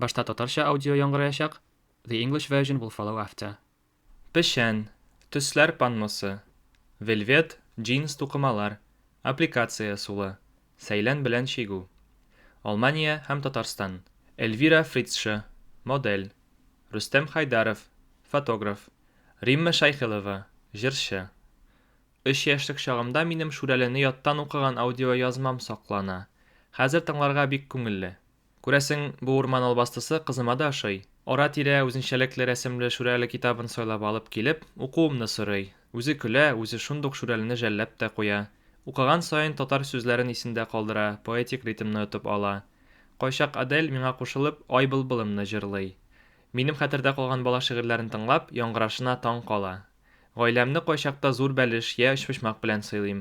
Башта татарча аудио яңгыраячак, the English version will follow after. Печән, төсләр панносы, вельвет, джинс тукымалар, аппликация сулы, сәйлән белән чигү. Алмания һәм Татарстан. Эльвира Фрицша, модель. Рөстәм Хайдаров, фотограф. Римма Шәйхелова, җырчы. Өч яшьлек чагымда минем Шүрәлене яттан укыган аудиоязмам саклана. Хәзер тыңларга бик күңелле. Күрәсең, бу урман албастысы кызыма да ошый. Ара-тирә үзенчәлекле рәсемле Шүрәле китабын сайлап алып килеп, укуымны сорый. Үзе көлә, үзе шундук Шүрәлене жәлләп тә куя. Укыган саен татар сүзләрен исендә калдыра, поэтик ритмны отып ала. Кайчак Адель, миңа кушылып, Ай былбылымны җырлый. Минем хәтердә калган бала шигырьләрен тыңлап, яңгырашына таң кала. Гаиләмне кайчакта зур бәлеш йә өчпочмак белән сыйлыйм.